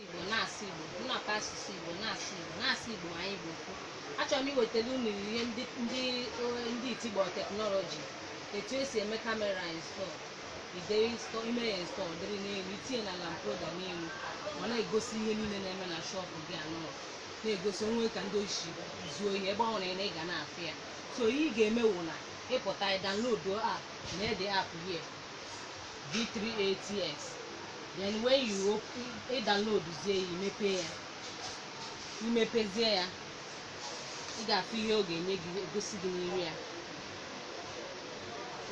Igbo na-asụ Igbo nnọkọ asụsụ Igbo na-asụ Igbo na-asụ Igbo anyị bụ ofu achọrọ m iwetara unu ihe ndị ndị eh, ndị itigbo teknọlọji etu esi eme kamera install ide install i mee ya install dịrị n'elu i tinye na lamp holder n'elu ma na-egosi ihe niile na-eme na shọpụ gị anọ na-egosi o nwee ka ndị oshi zuo ihe ebe ọ nwere na ị ga na-afụ ya so ihe ị ga-eme wụ na ị pụta download app nee the app here V380s then when you downloadzie ya i mepe ya i mepezie ya ị ga-afụ ihe ọ ga-enye gị egosi gị n'iru ya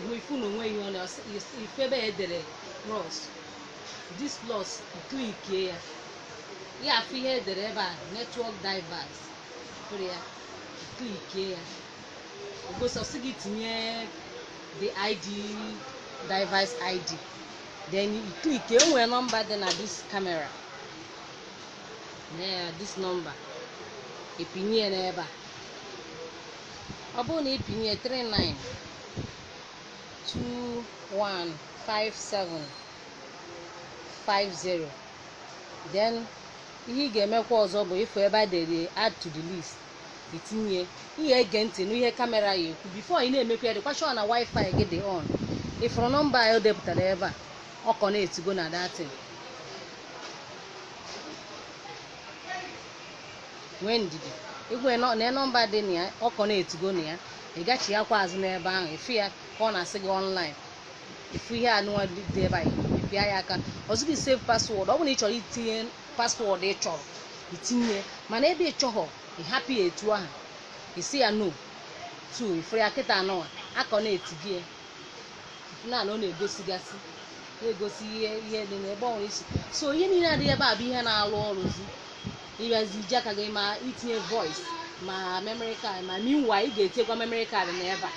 hụ ị fụ na o nwe ihe ọ na ife ebe e dere plus this plus ị klikie ya ị ga-afụ ihe e dere ebe a network device ị fụrụ ya ị klikie ya O gosi sị gị tinye the ID device ID then you click e nwe nọmba dị na this camera yeah, this number ị pinye ya n'ebe a ọ bụrụ na ị pinye 39 21 57 50 then ihe ị ga-emekwa ọzọ bụ ị fụ ebe a e dere add to the list i tinye ị ya-ege ntị n'ihe kamera ya-ekwu bifo ị na-emekwa ya dịkwa shọ na wifi gị dị on ị fụrụ nọmba ya o depụtara ebe a ọ connectigo na datin nwee ndidi igwe nọ- na nọmba dị na ya ọ connectigo na ya ị gachi ya kwa azụ n'ebe ahụ ị fụ ya ka ọ na-asị gị ọnlaịn ị fụ ihe anụnwa dị ebe a ị pịa ya aka ọ sị gị save paswọọdụ ọ bụrụ na ị chọrọ itinye paswọọdụ ị chọrọ itinye ya. mana ebe ị chọghọ ị hapụ ya etu ahụ ị sị ya no tu ị fụrụ ya kịta anụwa a connectigo ya naanị ọ na-egosigasị na-egosi ihe ihe dị na ebe ọ nwere isi so ihe niile a dị ebe a bụ ihe na-alụ ọrụzi ị bịazi i ji aka gị ma itinye voice ma memory card ma meanwhile ị ga-etinyekwa memory card na ebe a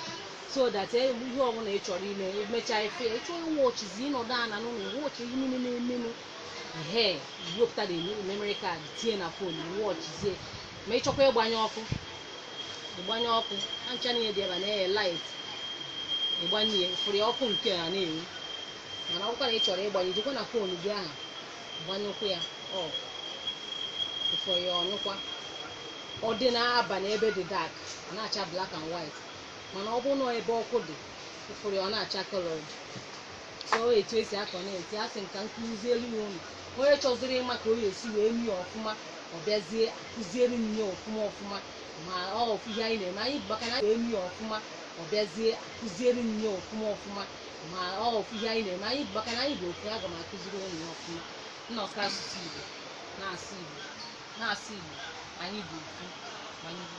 so that e- ihe ọbụla ị chọrọ ime emechaa ife ị chọ ịwọchizi ị nọdụ ana n'ụlọ wọchị ihe niile na-emenụ ehe wepụta the memory card tinye na fon wọchizie ma ị chọkwa ịgbanye ọkụ ị gbanye ọkụ ha ncha niile dị ebe a na-enye light ị gbanye ya ị fụrụ ya ọkụ nke a na-enwu mana ọkwa na ị chọrọ ịgbanye jekwa na fon gị ahụ gbanyekwa ya off ị fụ ya ọ nyụkwa ọ dị n'abalị ebe dị dark ọ na-acha black and white mana ọ bụrụ na ebe ọkụ dị ị fụrụ ya ọ na-acha colored sọọ etu esi akọnekti asị m ka m kụzielu ya ụnụ onye chọziri ịma ka o ya esi wee mie ọfụma ọ bịazie akụziere m ya ọfụma ọfụma ma ọ ọfụ ihe anyị na-eme anyị bụ maka na wee mie ọfụma ọ bịazie akụziere m ya ọfụma ọfụma ma ọ ọfụ ihe anyị na-eme anyị bụ maka na anyị bụ ofu aga m akụziri ụnụ ya ọfụma nnọkọ asụsụ Igbo na-asụ Igbo na-asụ Igbo anyị bụ ofu ma anyị bụ